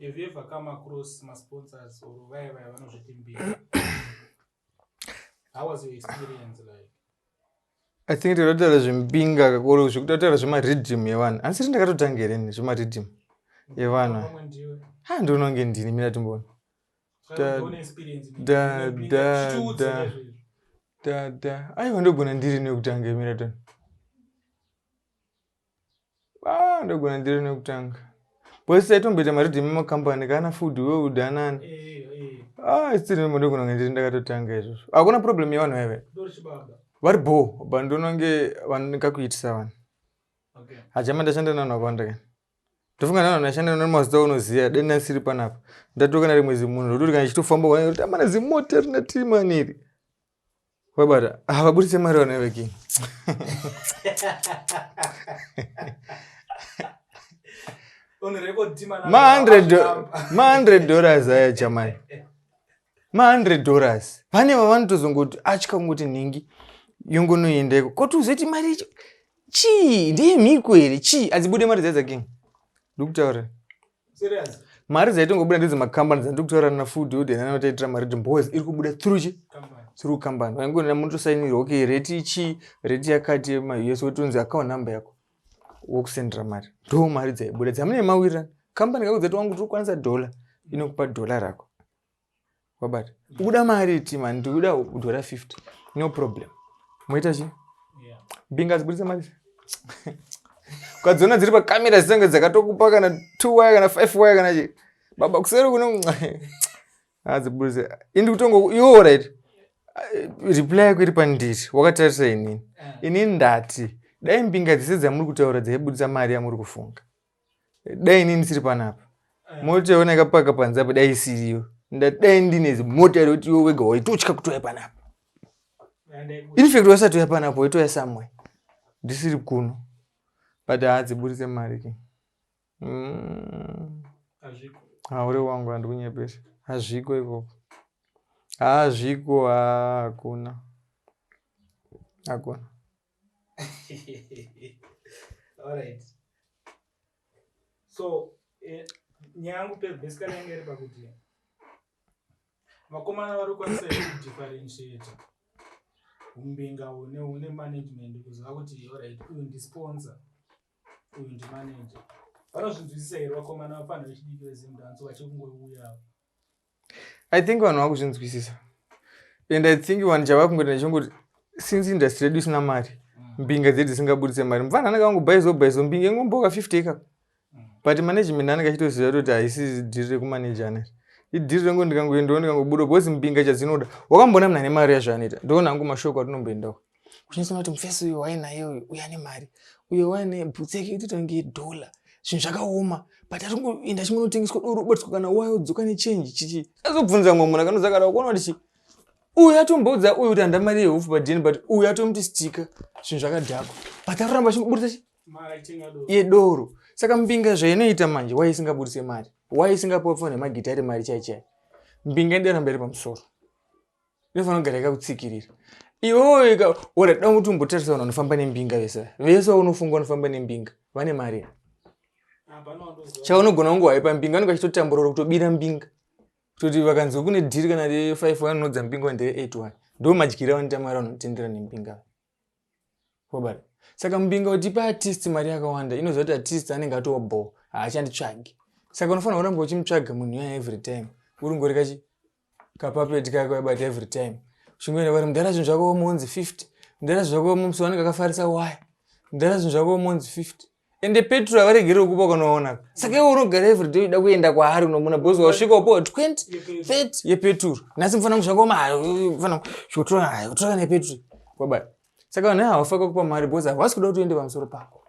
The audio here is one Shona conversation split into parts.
Have you ever come across my sponsors or vaya vaya vanozviti mbiri? How was your experience like? I think takataura zvembinga kakuru zvekuti tataura zvemariddim yevanhu asi ri ndakatotanga here ni zvemariddim yevanhu ha ndononge ndini mina timbona dada aiwa ndogona ndiri nekutanga imira tona ah, ndogona ndiri nekutanga bcause taitomboita maridhi emakambani kana food world anani eh, eh. ah, stirimo ndogona kunge ndiri ndakatotanga izvozvo hakuna problem yevanhu vaive vari bho but ndonange vanikakuitisa vanhu hajama ndashanda nanhu vakawanda kani ndofunga nanhu ndashanda nanhu mazita unoziva deni asiri panapa ndatokana rimwe zimunhu zvokuti kana ichitofamba amana zimota rina timaniri Wabata havaburitse mari vana vekini. Ma 100 dollars aya chamai. Ma 100 dollars. Vane vavanotozongoti atya kungoti nhingi yongonoendeko. Koti uzoti mari icho chii ndiye mhiko here chii adzibude mari dzaidza king. Ndikutaura. Serious. mari dzaitongobuda ndidzo makambani dzandiri kutaura nafood yodhi nana vataitira mari timboes iri kubuda through chi through company vaingonena munotosainirwa okay rate ichi rate yakati yemaus wotonzi account number yako wokusendera mari ndo mari dzaibuda dzamune mawirirana company kako dzati wangu tiri kukwanisa dollar inokupa dollar rako wabata ukuda mari iti mani ndikuda kudhora 50 no problem moita chi mbinga dzibudisa mari ukadziona dziri pakamera dzitenge dzakatokupa kana t y kana five y kana chi baba kuseri kuno adzibudise ah, indi kutongo iwo right reply yako iri pandiri wakatarisa inini eh. inini ndati dai mbinga dzese dzamuri kutaura dzaibudisa mari yamuri kufunga dai inini ndisiri panapa eh. mota yaona yakapaka panze apa dai isiriyo ndadai ndine mota yekuti iwe wega waitotya kutouya panapa infact wasati uya panapa waitouya somewhere ndisiri kuno but haadziburitse mari ke mm. haure wangu handikunyepesa hazviko ikoko hazviko hakuna hakuna Alright. So, eh, nyaya yangu pe basically yange iri pakuti vakomana vari kukwanisa here kudifferentiata umbinga hune hune management kuziva kuti orit uyu ndisponsor uyu ndimanager vanozvinzwisisa here vakomana vafanira vechidiki vezimdanso vachiri kungouya i think vanhu vakuzvinzwisisa and i think vanhu chava kungoita ndichongoti since industry yedu isina mari mbinga dzedu dzisingaburitse mari mufana anenge angobhaizo bhaizo mbinga ingomboka 50 ikako but management anenge achitoziva toti haisi dhiri rekumaneja aneri idhiri rengu ndikangoendawo ndikangobuda because mbinga chadzinoda wakamboona mna nemari yazvo anoita ndoona hangu mashoko atinomboendawo uchinasona kuti mufesi uyo wainaye uyo uyo ane mari uyo waine bhutsi yake itotange dollar zvinhu zvakaoma but atongoenda chingonotengeswa doro ubatiswa kana wayo dzoka nechange chichi azobvunza mwe munhu akanodza kana ukuona kuti uyu atomboudza uyu kuti handa mari yehofu padn but uyu atomuti stika zvinhu zvakadhakwa but aroramba achimburitsa chi yedoro saka mbinga zvainoita manje wai isingaburitse mari wai isingapuwa pfana nemagitari mari chaichai mbinga indiramba iri pamusoro inofanira kugara yakakutsikirira iwewe ka ora da kuti umbotarisa vanhu vanofamba nembinga vese vese vaunofunga vanofamba nembinga vane mari chaunogona kunge waipa mbinga vanenge vachitotamburora kutobira mbinga kutoti vakanzwa kune dhiri kana re five one unodza mbinga one ndere eight one ndo madyire avanoita mari vanotendera nembinga wobara saka mumbinga utipa artist mari yakawanda inoziva kuti artist anenge atova bho haachanditsvagi saka unofanira kuramba uchimutsvaga munhu yaya every time uri ngori kachi kapapeti kako yabata every time uchingoenda vari mudhara zvinhu zvako womonzi 50 mudhara zvinhu zvako womonzi wanenge akafarisa waya mudhara zvinhu zvako womonzi 50 ende petro havaregerewo kupa kwanoona saka iwe unogara everyday uida kuenda kwaari unomona bos wasvika upowa 20 30 yepetro nhasi mufana kuzvakoma fana zvikutora kutora nepetro baba saka vanhu havafaka kupa mari bos havasi kuda kuti uende pamusoro pako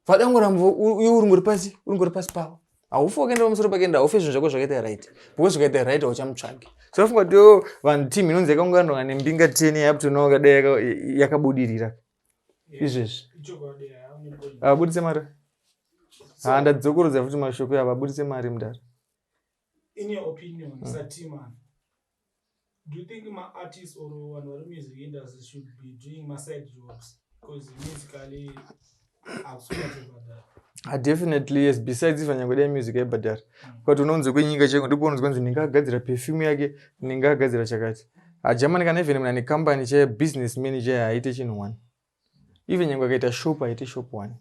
vada kungoramba iwe uringori pasi uringori pasi pavo haufe wakaenda pamusoro pake ende haufe zvinhu zvako zvakaita right because zvakaita right hauchamutsvagi so afunga kuti oh, vanhu team inonzi yakaunganwa nembinga ten yaputonawo kadai yakabudirira izvezvi havabudise mari ha ndadzokorodza futi mashoko avo abudise mari mudare in your opinion mm. satiman do you think maartist or vanhu vari music industry should be doing maside jobs because musically akusuaebadara ah, definitely yes besides ifa nyange dai music aibhadhara mm. but unonzi kwenyika cheko ndipo unonzi kwanzi ndinga agadzira perfume yake ndinga agadzira chakati Ajamani kana even mna ne company che business manager haite chinhu one. Even nyangwe akaita shop haite shop one.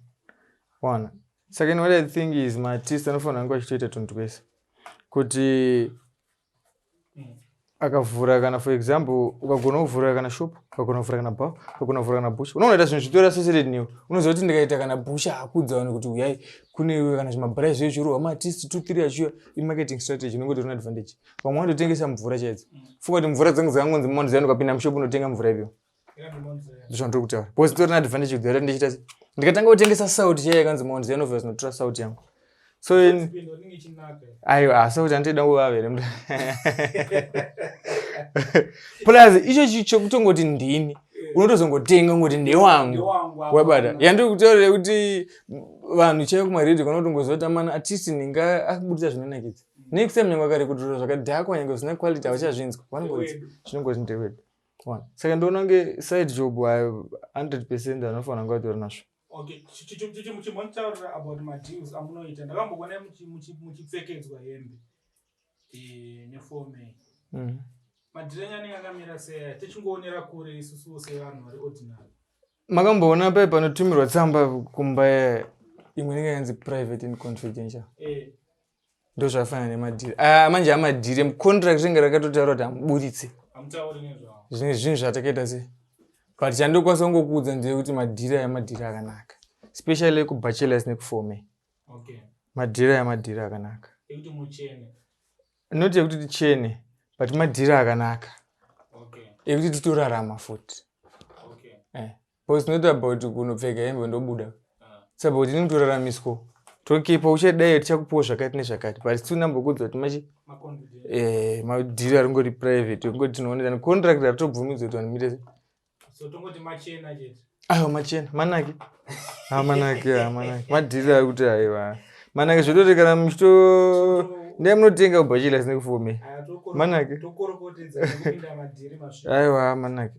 Wana. Second what I think is my artist anofanira kunge achitoita tunhu twese. Kuti akavhura kana for example ukagona kuvhura kana shop ukagona kuvhura kana bar ukagona kuvhura kana busha unonoita zvinhu zvitori associated newe unoziva kuti ndikaita kana busha hakudza vanhu kuti uyai kune kana zvimabrai zviye zvirohwa maartist two three achiuya imarketing strategy unenge utori neadvantage vamwe vanototengesa mvura chaidzo funga kuti mvura dzangu dzakangonzi mount zion ukapinda mushopu unotenga mvura ipyo ndizvo ndiri kutaura bcause tori naadvantage kudhara ndichita ndikatanga kutengesa salt chaiyo yakanzi mount zion obvious notora salt yangu so aiwa ah, salt andida kuvavere mnda plus icho chi chokutongoti ndini unotozongotenga ngoti ndewangu wabata yandiri kutaurira kuti vanhu chaiyo kumaredio kana utongoziva kuti amana artist ndinga akubudisa zvinonakidza next time nyange akarikudhura zvakadhakwa nyange zvisina quality hauchazvinzwa vanongoridza zvinongozi ndewedu one saka ndoona kunge side job ayo 100 percent anofanira kunge vatori nazvo chimbonitaurira about madeals amunoita ndakambokuona muchipfekedzwa hembe eh, nefome mm. madhiri enyu anenge akamira seya tichingoonera kure isusuwo sevanhu vari ordinary makamboona paye panotumirwa tsamba kumba imwe inenge yanzi private and confidential eh. ndozvakafanana nemadhiri ah, manje amadhiri emucontract ringe rakatotaura kuti amuburitse zvine zvinhu zvatakaita se but chandokwanisa kungokuudza ndeyekuti madhiri aya madhiri akanaka especially ekubachelors nekufome madhiri aya madhiri akanaka not yekuti tichene but madhiri akanaka ekuti titorarama futi eh. But it's not about kunopfeka hembe ndobuda. It's about ini kutoraramiswa. Tokipa uchadai tichakupiwa zvakati nezvakati but still nambokuudza kuti machi eh madhiri ari ngori private ngoti tinoonera ni contract ari tobvumidzwa kuti vanimire se. So tongoti machena chete. Ayo machena manaki. Ha ah, manaki ha ah, manaki. Madhiri ari kuti aiwa. Manaki zvotote kana muchito ndiye munotenga ubachila sine kufume. Manaki. Tokorokotedza kupinda madhiri masvika. Aiwa manaki.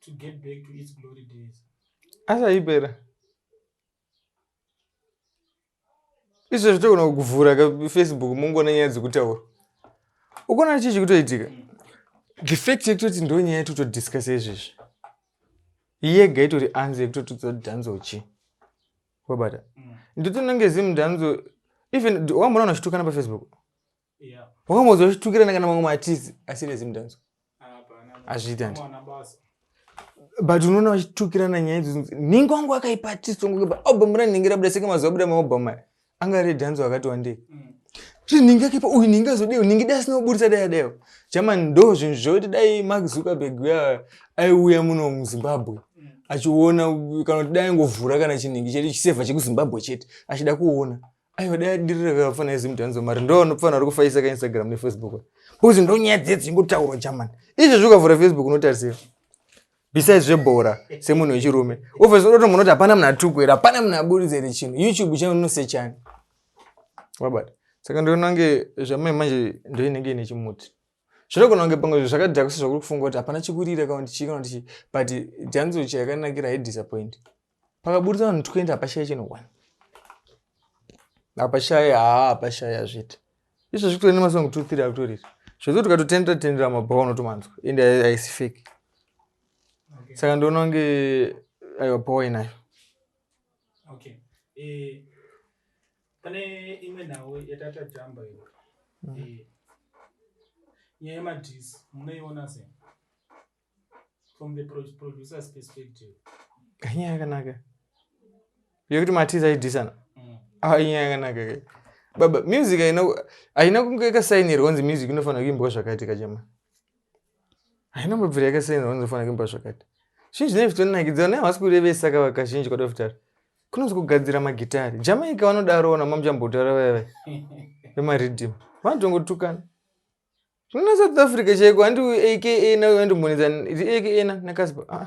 to get back to its glory days asaipera izvo zvitogona kuvhura kafacebook mungoona nyaya dzekutaura ukona chii chikutoitika the fact yekutoti ndo nyaya yekutotodiscusa izvezvi yega itori anzi yekutotodza dhanzo chi wabata mm. nditononge zimdhanzo even wamboona unozvitukana pafacebook wakambozotukirana kana mamwe matizi asirezi mudanzo hazviiti andi but unoona vachitukirana nyaya idzodzo nhingi wangu akaipa artist wangu album ranhingi rabuda seke mazuva abuda maalbum aya anga ari dhanzi wakati wandei zvii nhingi akaipa uyu nhingi azodei nhingi dai asina kuburitsa dai adaiwo jamani ndo zvinhu zvokuti dai mark zuckerberg uya aiuya muno muzimbabwe achiona kana kuti dai angovhura kana chinhingi chete chisevha chekuzimbabwe chete achida kuona Aiwa dai adirira ka fana izi mutanzo mari ndo anopfana ari kufaisa ka Instagram ne Facebook. Because ndo nyaya dze dzingo tauro German. Izvi zvuka vura Facebook unotarisira. Besides zve bora se munhu wechirume. Ofes unoto munoti hapana mna tuku era hapana mna buridze re chino. YouTube channel no se chani. Wabata. Saka ndo nange zvamai manje ndo inenge ine chimuti. zvinogona kunge pamwe zvinhu zvakadhakwa sezvakuri kufunga kuti hapana chikurira kana kuti chii kana kuti chii but dhanzo chayakanakira haidisappoint pakaburitsa vanhu 20 hapashaya chino one hapashaya haa hapashaya zvete izvo zvikutori nemasongo two three akutoriri zvekuti ukatotendera tendera mabhawa unotomanzwa ende haisi fake saka ndoona kunge aiwa bhawa inayo okay. e pane imwe nhau yatatadamba iyo mm. eh, nyaya yemadhisi munoiona se from the producer's perspective inyaya yakanaka yekuti matizi aidhisana mm. ah, inyaya yakanaka ke baba music haina kunge kasainirwa kunzi music inofanira kuimbwa zvakaitika chema haina mabvira yakasiyana vanozofanira kumba zvakati zvinhu zvinenge zvitonakidza vanhu havasi kurevesa kava kazhinji kwada kutaura kunonzi kugadzira magitari jamaica vanodaro ona mamuchambotaura vaya vaya vemaridhim vanotongotukana zvinoona south africa chaiko handi aka na andimbonetsa aka na nakaspa ah.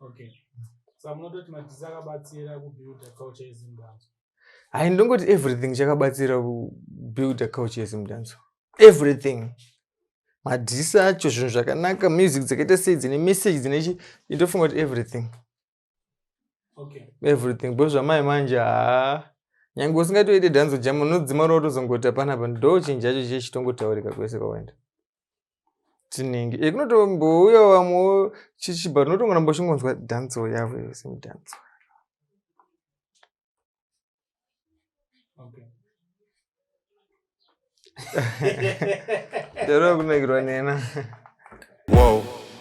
okay saka munototi madzidzi akabatsira kubuilda culture yezimbabwe hayi ndongoti everything chakabatsira kubuilda culture yezimbabwe everything madhisi acho zvinhu zvakanaka music dzakaita sei dzine message dzine chi indofunga kuti everything okay. everything bcause zvamai manje haa nyange usingatoite dhanzo jam unodzima ro tozongoti hapana pa ndochinji acho chiye chitongotaurika kwese kwawaenda tinenge e eh, kunotombouya vamwe chichiba tinotonga namba uchingonzwa dhanzo yavo yose mudhanzo ndaro kunakirwa nena wow.